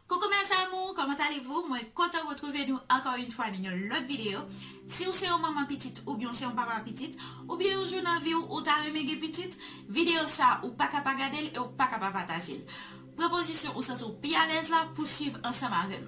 Coucou mes amours comment allez vous mwen kontan retrouve nou ankò yn fwa nan yon lòt video siw se yon manman pitit oubyen w se yon papa pitit oubyen yon jou nan viw ou ta renmen gen pitit video sa ou paka pa gadel e ou paka pa patajel pran pozisyon ou santiw pi alèz la pou swiv ansanm avèm.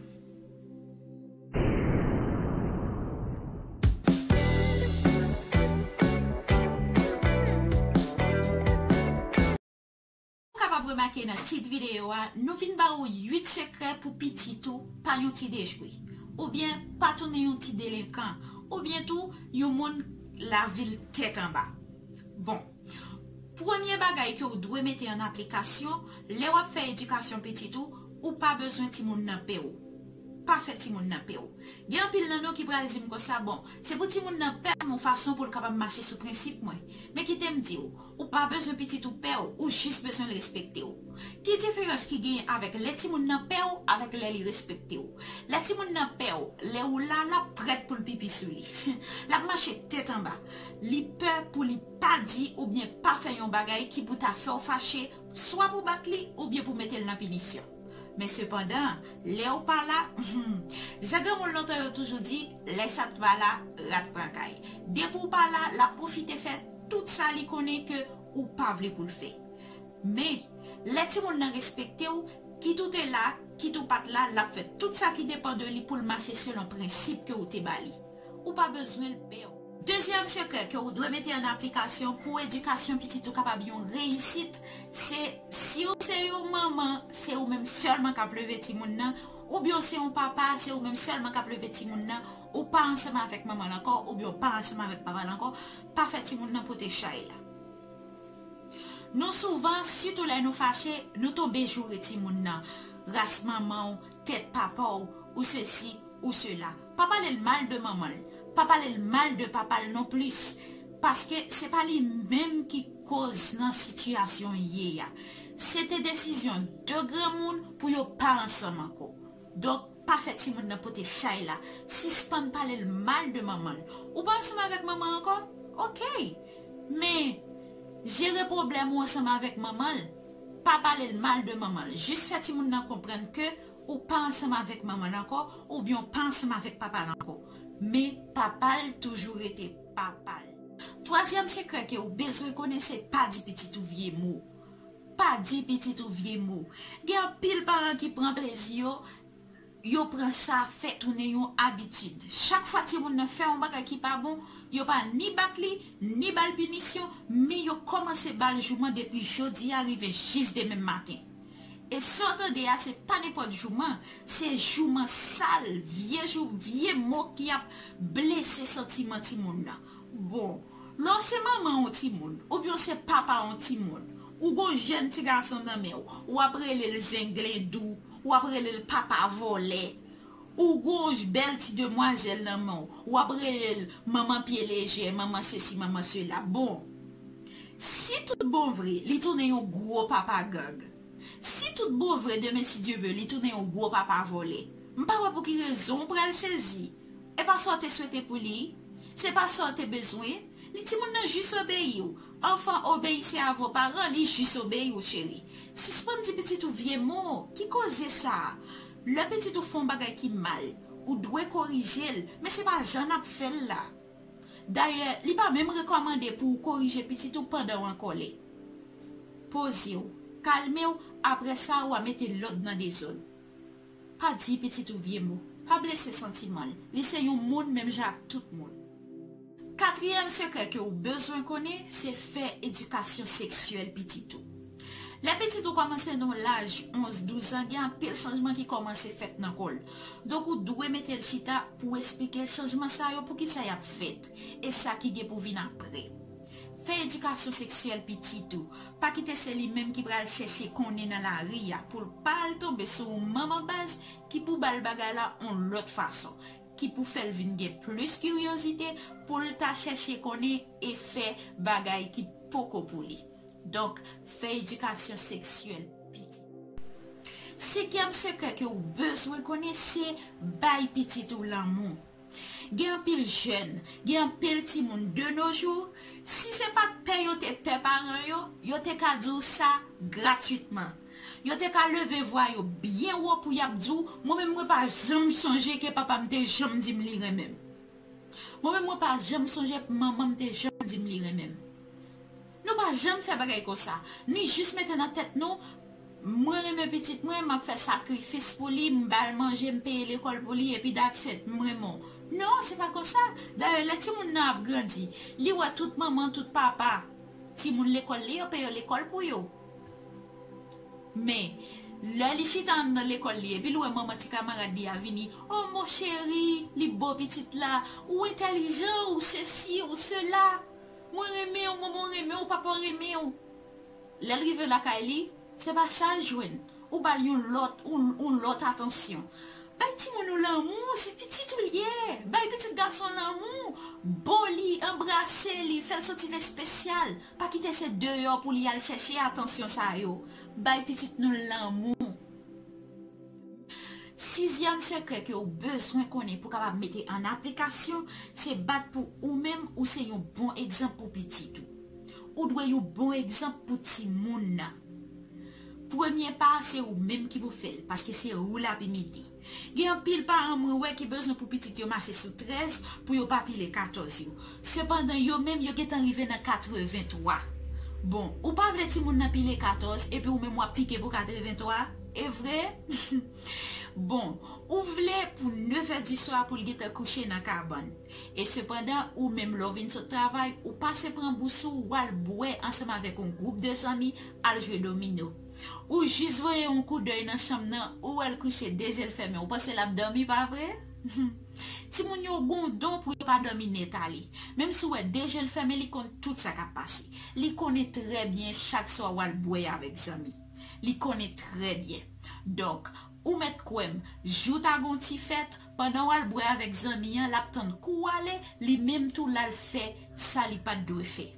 Ou kapab remake nan tit videyo a, nou vin ba ou 8 sekrè pou pitit ou pa yon ti dejwe, oubyen pa tounen yon ti delenkan, oubyen tou yon moun lavi l tèt anba. Bon, premye bagay ke ou dwe mete an aplikasyon, lè w ap fè edikasyon pitit ou, ou pa bezwen timoun nan pè w. Pa fè timoun nan pè w. Gen anpil nan nou ki pral di m konsa, bon, se pou timoun nan pè m yon fason pou l kapab mache sou prensip mwen. Men kite m di ou, Ou pa bezwen pitit ou pè w, ou jis bezwen l respekte w. Ki diferans ki genyen avèk lè timoun nan pè w avèk lè li respekte w? Lè timoun nan pè w, lè ou la, l ap prèt pou l pipi sou li. L ap mache tèt anba. Li pè pou li pa di oubyen pa fè yon bagay ki pou ta fè w fache, swa pou bat li oubyen pou mete l nan pinisyon. Men sepandan, lè ou pa la, humm, jan granmoun lontan yo toujou di, lè chat pa la, rat pran kay. Depi w pa la, l ap pwofite fè. Tout sa li konnen ke ou pa vle pou l fè. Men, lè timoun nan respekte ou, kit ou te la, kit ou pa t la, l ap fè tout sa ki depan de li pou l mache selon prensip ke ou te ba li. Ou pa bezwen l pè ou. Dezyèm sekrè ke ou dwe mete an aplikasyon pou edikasyon pitit ou kapab yon reyisit, se si ou se yon manman, se ou menm sèlman k ap leve timoun nan, oubyen ou se yon papa, se ou menm sèlman k ap leve timoun nan, ou pa ansanm avèk manman l ankò, oubyen ou pa ansanm avèk papa l ankò, Pa fè timoun nan pote chay la. Nou souvan, sitou lè nou fache, nou tonbe joure timoun nan, ras manman w, tèt papa w, ou sesi, ou sela. Pa pale l mal de manman l. Pa pale l mal de papa l non plis. Paske se pa li menm ki koz nan sitiyasyon y ye a. Se te desizyon de granmoun pou yo pa ansanm anko. Donk pa fè timoun nan pote chay la, sispann pale l mal de manman l. Ou pa ansanm avèk manman l ankò? Ok! Men, jere pwoblèm ou ansanm avèk manman l, pa pale l mal de manman l. Jis fè timoun nan konprann ke ou pa ansanm avèk manman l ankò oubyen ou pa ansanm avèk papa l ankò. Men, papa l toujou rete papa l. Twazyèm sekrè ke ou bezwen konnen se pa di pitit ou vye mo. Pa di pitit ou vye mo. Gen anpil paran ki pran plezi yo, yo pran sa fè tounen yon abitid. Chak fwa timoun nan fè yon bagay ki pa bon, yo pa ni bat li, ni ba l pinisyon, men yo kòmanse ba l jouman depi jodi a rive jis demen maten. E sa w tande a se pa nenpòt jouman, se jouman sal, vye jouman, vye mo ki ap blese santiman timoun nan. Bon, lè w se manman yon timoun, oubyen w se papa yon timoun, ou gon jèn ti gason nan men w, w ap rele l zenglendou, w ap rele l papa vòlè, ou gon bèl ti demwazèl nan men w, w ap rele l manman pye lejè, manman sesi, manman sela. Bon, si tout bon vre, li tounen yon gwo papa gang. Si tout bon vre, demen si Dye ve, li tounen yon gwo papa vòlè. M pa wè pou ki rezon w pral sezi. E pa sa w te swete pou li, se pa sa w te bezwen, ni timoun nan jis obeyi w. Anfan, obeyise a vo paran li jis obeyi w cheri. Sispann di pitit ou vye mo, ki koze sa? Lè pitit ou fè yon bagay ki mal, ou dwe korije l, men se pa jan n ap fè l la. Dayè, li pa menm rekòmande pou ou korije pitit ou pandan w an kòlè. Poze w, kalme w, apre sa ou a mete lòd nan dezòd. Pa di pitit ou vye mo. Pa blese santiman l. Li se yon moun menm jan ak tout moun. Katriyèm sekrè ke ou bezwen konnen se fè edikasyon seksyèl pitit ou. Lè pitit ou kòmanse nan yon laj 11, 12 an gen anpil chanjman ki kòmanse fèt nan kò l. Donk ou dwe mete l chita pou esplike l chanjman sa yo poukisa y ap fèt e sa ki gen pou vin apre. Fè edikasyon seksyèl pitit ou. Pa kite se li menm ki pral chèche konnen nan lari a pou l pa al tonbe sou yon manman baz ki pou ba l bagay la yon lòt fason, ki pou fè l vin gen plis kiryozite pou l ta chèche konnen e fè bagay ki poko pou li. Donk, fè edikasyon seksyèl pitit ou. Senkyèm sekrè ke ou bezwen konnen se bay pitit ou lanmou. Gen anpil jèn, gen anpil timoun de no jou, si se pa t pè yo te pè paran yo, yo te ka di w sa gratitman. Yo te ka leve vwa yo byen wo pou y ap di w, Mwen menm mwen pa janm sonje ke papa m te janm di m li renmen m. Mwen menm mwen pa janm sonje manman m te janm di m li renmen m. Nou pa janm fè bagay konsa. Nou jis mete nan tèt nou, Mwen renmen pitit mwen, m ap fè sakrifis pou li, m ba l manje, m peye lekòl pou li, epi that's it, m renmen w. Non, se pa konsa! Dayè, lè timoun nan ap grandi, li wè tout manman, tout papa, timoun lekòl li yo peye lekòl pou yo. Men, lè li chita anndan lekòl li epi l wè manman ti kamarad li a vini, O mon cheri, li bo pitit la, ou entèlijan, ou sesi, ou sela. Mwen renmenw manman renmenw papa renmenw lèl rive lakay li se pa sal jwenn ou bal yon lòt yon lòt atansyon bay timoun ou lanmou se pitit ou liye bay pitit gason lanmou bo li anbrase li fèl santi l espesyal pa kite se deyò pou li al chèche atansyon sa yo bay pitit nou lanmou. Sizyèm sekrè ke ou bezwen konnen pou kapab mete an aplikasyon, se bat pou ou menm ou se yon bon egzanp pou pitit ou. Ou dwe yon bon egzanp pou timoun nan. Premye pa a se ou menm ki pou fè l, paske se ou l ap imite. Gen anpil paran mwen wè ki bezwen pou pitit yo mache sou 13 pou yo pa pile 14 yo. Sepandan, yo menm, yo gentan rive nan katreventwa. Bon, ou pa vle timoun nan pile katòz, epi ou menm w ap pike pou katreventwa? E vre? Bon, ou vle pou nevèdiswa pou l gentan kouche nan kabann. E sepandan, ou menm, lè w vin sot travay, ou pase pran bous ou, w al bwè ansanm avèk yon gwoup de zanmi, al jwe domino. Ou jis voye yon koudèy nan chanm nan, ou wè l kouche de je l fèmen, ou panse l ap dòmi, pa vre? Timoun yo gon don pou yo pa dòmi nèt ale. Menm si w wè de je l fèmen li konn tout sa k ap pase. Li konnen trè byen chak swa w al bwè avèk zanmi. Li konnen trè byen. Donk, ou mèt kwè m, jou ta gon ti fèt, pandan w al bwè avèk zanmi an l ap tann kou w ale, li menm tou l al fè sa li pa t dwe fè.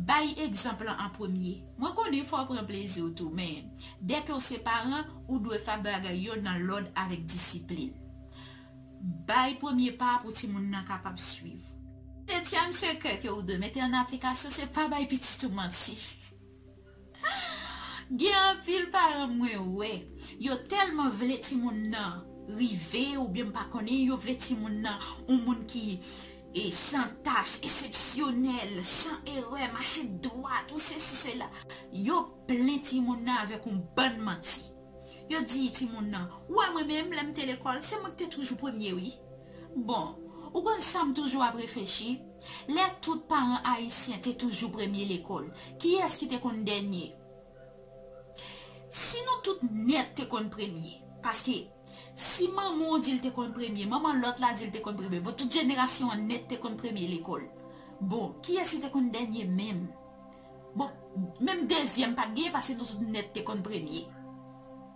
Bay egzanp lan an premye. Mwen konnen fò w pran plezi w tou, men, dèke w se paran, ou dwe fè bagay yo nan lòd avèk disiplin. Bay premye pa a pou timoun nan kapab suiv. Setyèm sekrè ke ou dwe mete an aplikasyon se pa bay pitit ou manti. Gen anpil paran mwen wè yo tèlman vle timoun nan rive oubyen m pa konnen yo vle timoun nan yon moun ki san tach, esepsyonèl, san erè, mache dwat ou sesi sela, yo plen timoun nan avèk yon bann manti. Yo di timoun nan, ou wè mwen menm lè m te lekòl se mwen ki te toujou premye wi. Bon, ou konn sa m toujou ap reflechi? Lè tout paran ayisyen te toujou premye lekòl, kiyès ki te konn dènye? Si nou tout nèt te konn premye, paske si manman w di l te konn premye, manman lòt la di l te konn premye, bon tout jenerasyon an nèt te konn premye lekòl. Bon, kiyès ki te konn dènye menm? Bon, menm dezyèm pa t genyen paske nou tout nèt te konn premye.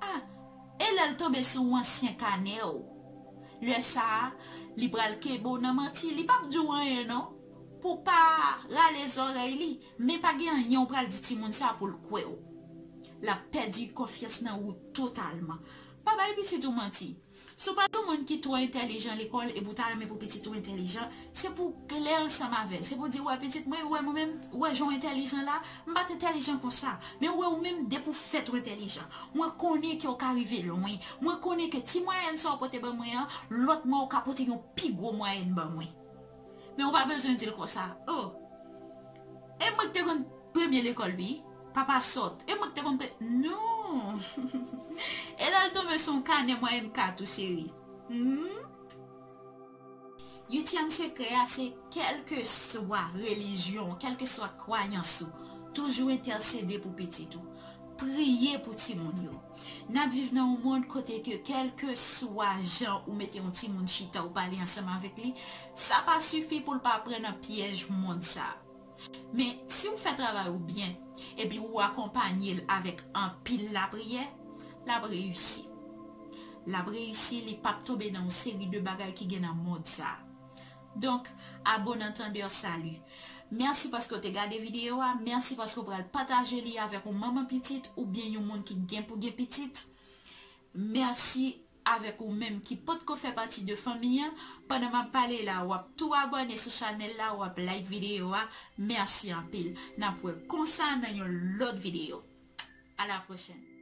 A! E lè l tonbe sou yon ansyen kanè w? Lè sa a, li pral kenbe w nan manti, li p ap di w anyen non, pou w pa rale zòrèy li, men pa gen anyen w pral di timoun sa a pou l kwè w. L ap pèdi konfyans nan ou totalman. Pa bay pitit ou manti. Si w pa yon moun ki twò entèlijan lekòl epi w ta renmen pou pitit ou entèlijan, Se pou w klè ansanm avè l. Se pou w di, Ou wè pitit mwen, ou wè mwen menm, ou wè jan w entèlijan la, m pa t entèlijan konsa. Men ou wè ou menm depi w fèt ou entèlijan. Mwen konnen ke w ka rive lwen. Mwen konnen ke ti mwayèn sa w pote ban mwen an, lòt mwa ou ka pote yon pi gwo mwayèn ban mwen. Men ou pa bezwen di l konsa. O! E mwen ki te konn premye lekòl wi. Papa sòt. E mwen ki te konn pre. Non! E lè l tonbe sou yon kanè mwayèn 4 ou cheri? Hum! Uityèm sekrè a se kèlkeswa relijyon w, kèlkeswa kwayans ou, toujou entèsede pou pitit ou. Priye pou timoun yo. N ap viv nan yon mond kote ke kèlkeswa jan ou mete yon timoun chita ou pale ansanm avèk li, sa pa sifi pou l pa pran nan pyèj mond sa. Men, si ou fè travay ou byen, epi ou akonpanye l avèk anpil lapriyè, l ap reyisi. L ap reyisi, li pap tonbe nan yon seri de bagay ki gen nan mond sa a. Donk, a bon antandè, sali. Mèsi paske ou te gade videyo a, mèsi paske ou pral pataje li avèk yon manman pitit oubyen yon moun ki gen pou gen pitit. Mèsi avèk ou menm ki potko fè pati de fanmi an pandan map pale la wap tou abòne sou chanèl la wap like video a merci anpil nap wè konsa nan yon lòt video a la prochèn.